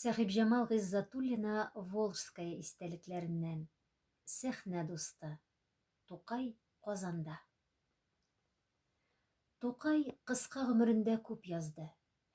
Сәхибҗамал Гыйззатуллина Волжская истәлекләреннән, Сәхнә дусты, Тукай Казанда. Тукай кыска гомерендә күп язды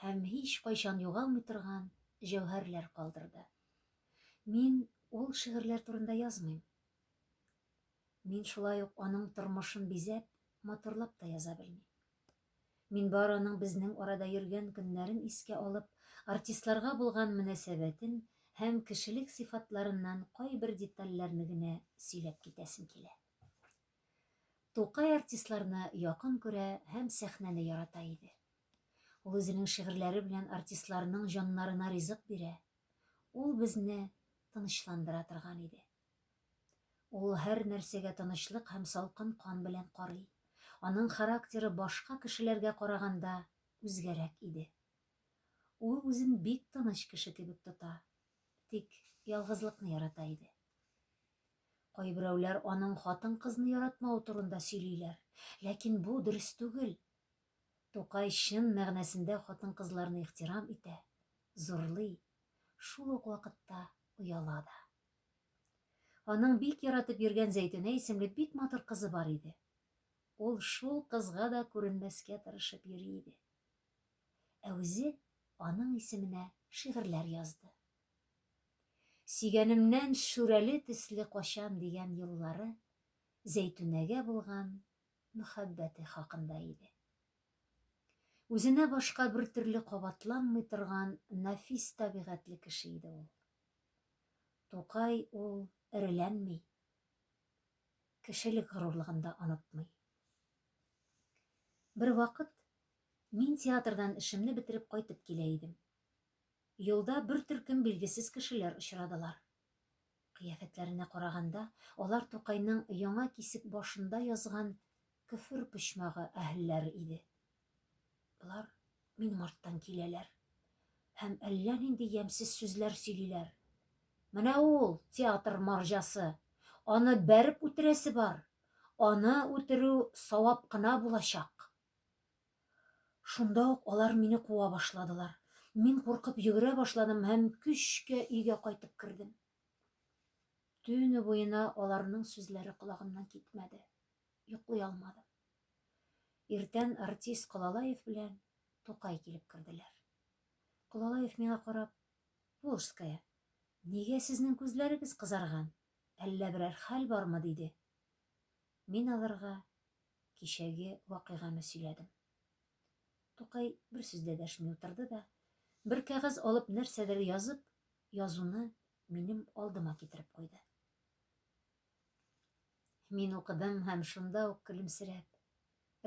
һәм һичкайчан югалмый торган җәүһәрләр калдырды. Мин ул шигырьләр турында язмыйм. Мин шулай ук аның тормышын бизәп, матурлап та яза белмим. Мин бары аның безнең арада йөргән көннәрен искә алып, артистларга булган мөнәсәбәтен һәм кешелек сыйфатларыннан кайбер детальләрне генә сөйләп китәсем килә. Тукай артистларны якын күрә һәм сәхнәне ярата иде. Ул үзенең шигырьләре белән артистларның җаннарына ризык бирә, ул безне тынычландыра торган иде. Ул һәр нәрсәгә тынычлык һәм салкын кан белән карый. Аның характеры башка кешеләргә караганда үзгәрәк иде. Ул үзен бик тыныч кеше кебек тота, тик ялгызлыкны ярата иде. Кайберәүләр аның хатын-кызны яратмавы турында сөйлиләр, ләкин бу дөрес түгел. Тукай чын мәгънәсендә хатын-кызларны ихтирам итә, зурлый, шул ук вакытта ояла да. Аның бик яратып йөргән Зәйтүнә исемле бик матур кызы бар иде. Ул шул кызга да күренмәскә тырышып йөри иде. Ә үзе аның исеменә шигырьләр язды. Сөйгәнемнән шүрәле төсле качам дигән юллары Зәйтүнәгә булган мөхәббәте хакында иде. Үзенә башка бертөрле кабатланмый торган нәфис табигатьле кеше иде ул. Тукай ул эреләнми, кешелек горурлыгын да онытмый. Бервакыт мин театрдан эшемне бетереп кайтып килә идем. Юлда бер төркем билгесез кешеләр очрадылар. Кыяфәтләренә караганда, алар Тукайның яңа кисек башында язган Көфер почмагы әһелләре иде. Болар минем арттан киләләр һәм әллә нинди ямьсез сүзләр сөйлиләр. Менә ул, театр марҗасы! Аны бәреп үтерәсе бар! Аны үтерү савап кына булачак! Шунда ук алар мине куа башладылар. Мин куркып йөгерә башладым һәм көчкә өйгә кайтып кердем. Төне буена аларның сүзләре колагымнан китмәде. Йоклый алмадым. Иртән артист Колалаев белән Тукай килеп керделәр. Колалаев миңа карап, Волжская, нигә сезнең күзләрегез кызарган, әллә берәр хәл бармы? диде. Мин аларга кичәге вакыйганы сөйләдем. Тукай бер сүз дә дәшми утырды да, бер кәгазь алып нәрсәдер язып, язуны минем алдыма китереп куйды. Мин укыдым һәм шунда ук көлемсерәп,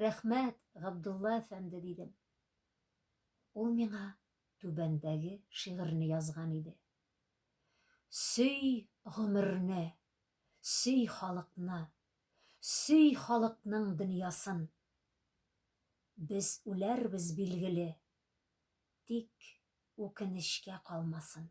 Рәхмәт, Габдулла әфәнде, дидем. Ул миңа түбәндәге шигырьне язган иде. Сөй гомерне, сөй халыкны, сөй халыкның дөньясын. Без үләрбез, билгеле, тик үкенечкә калмасын.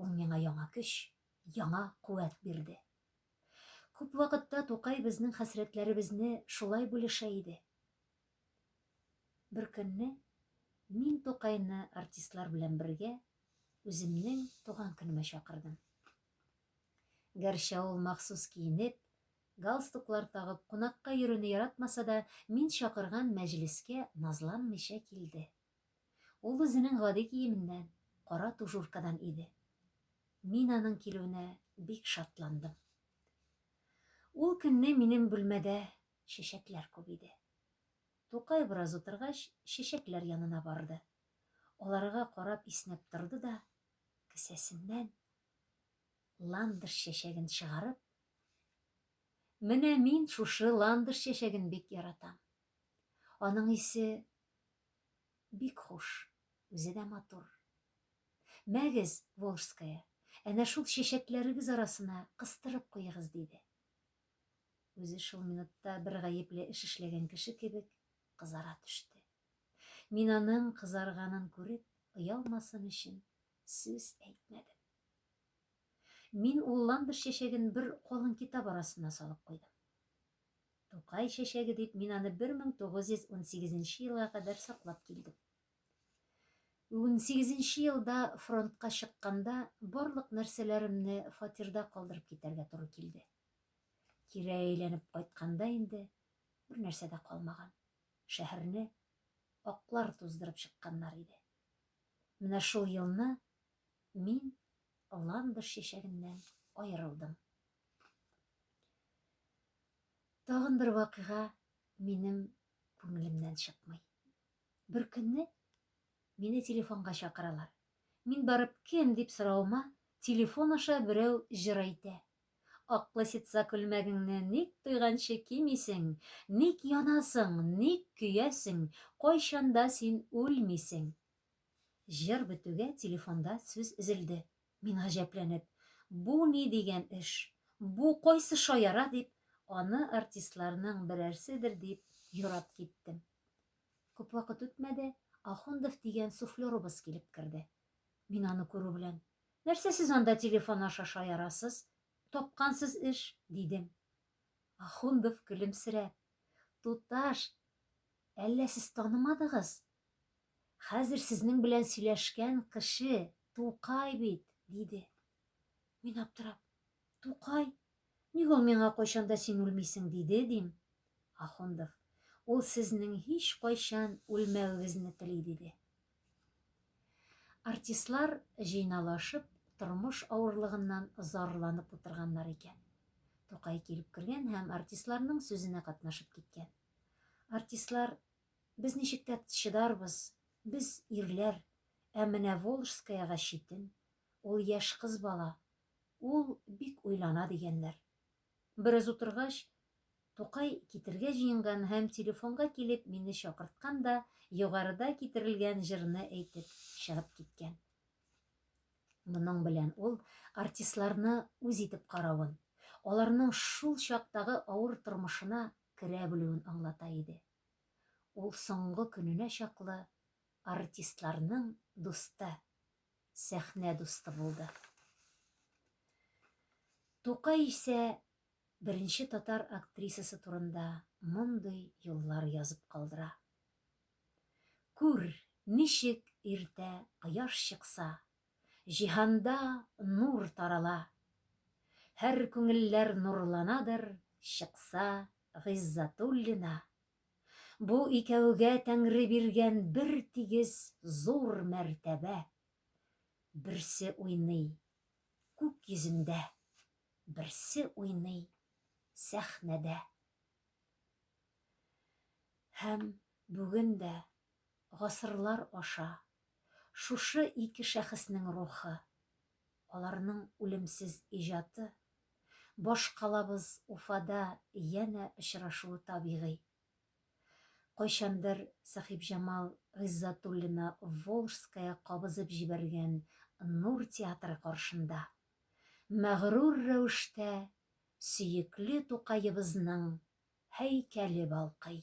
Ул миңа яңа көч, яңа куәт бирде. Күп вакытта Тукай безнең хәсрәтләребезне шулай бүлешә иде. Беркөнне мин Тукайны артистлар белән бергә үземнең туган көнемә чакырдым. Гәрчә ул махсус киенеп, галстуклар тагып кунакка йөрүне яратмаса да, мин чакырган мәҗлескә назланмыйча килде. Ул үзенең гади киеменнән, кара тужуркадан иде. Мин аның килүенә бик шатландым. Ул көнне минем бүлмәдә чәчәкләр күп иде. Тукай бераз утыргач, чәчәкләр янына барды. Аларга карап иснәп торды да, кесәсеннән ландыш чәчәген чыгарып, Менә мин шушы ландыш чәчәген бик яратам. Аның исе Бик хуш, үзе дә матур. Мәгез, Волжская, әнә шул чәчәкләрегез арасына кыстырып куегыз, диде. Үзе шул минутта бер гаепле эш эшләгән кеше кебек кызара төште. Мин аның кызарганын күреп, оялмасын өчен сүз әйтмәдем. Мин ул ландыш чәчәген бер калын китап арасына салып куйдым. Тукай чәчәге дип мин аны 1918 нче елга кадәр саклап килдем. Унсигезенче нче елда фронтка чыкканда барлык нәрсәләремне фатирда калдырып китәргә туры килде. Кире әйләнеп кайтканда инде бер нәрсә дә калмаган. Шәһәрне аклар туздырып чыкканнар иде. Менә шул елны мин ландыш чәчәгеннән аерылдым. Тагын бер вакыйга минем күңелемнән чыкмый. Бер көнне мине телефонга чакыралар. Мин барып кем дип соравыма, телефон аша берәү җыр әйтә. Аклы ситса күлмәгеңне ник туйганчы кимисең, ник янасың, ник көясең, кайчанда син үлмисең. Җыр бетүгә телефонда сүз өзелде. Мин гаҗәпләнеп, Бу ни дигән эш? Бу кайсы шаяра дип, аны артистларның берәрседер дип юрап киттем. Күп вакыт үтмәде, Ахундов дигән суфлерыбыз килеп керде. Мин аны күрү белән, Нәрсә сез анда телефон аша шаярасыз? Тапкансыз эш, дидем. Ахундов көлемсерәп, Туташ, әллә сез танымадыгыз? Хәзер сезнең белән сөйләшкән кеше Тукай бит, диде. Мин аптырап, Тукай? Ник ул миңа кайчан да син үлмисең диде, дим. Ахундов, ул сезнең һичкайчан үлмәвегезне тели, диде. Артистлар җыйналашып, тормыш авырлыгыннан зарланып утырганнар икән. Тукай килеп кергән һәм артистларның сүзенә катнашып киткән. Артистлар Без ничек тә чыдарбыз, без, ирләр, ә менә Волжскаяга читен, ул яшь кыз бала, ул бик уйлана, дигәннәр. Бераз утыргач, Тукай китергә җыенган һәм телефонга килеп мине чакырткан да югарыда китерелгән җырны әйтеп чыгып киткән. Моның белән ул артистларны үз итеп каравын, аларның шул чактагы авыр тормышына керә белүен аңлата иде. Ул соңгы көненә чаклы артистларның дусты, сәхнә дусты булды. Тукай исә беренче татар актрисасы турында мондый юллар язып калдыра. Күр, ничек иртә кояш чыкса, Җиһанда нур тарала. Һәр күңелләр нурланадыр Чыкса Гыйззатуллина. Бу икәүгә Тәңре биргән Бертигез зур мәртәбә. Берсе уйный күк йөзендә, Берсе уйный сәхнәдә. Һәм бүген дә Гасырлар аша шушы ике шәхеснең рухы, аларның үлемсез иҗаты, башкалабыз Уфада янә очрашуы табигый. Кайчандыр Сәхибҗамал Гыйззатуллина Волжская кабызып җибәргән Нур театры каршында, мәгърур рәвештә сөекле Тукаебызның һәйкәле балкый.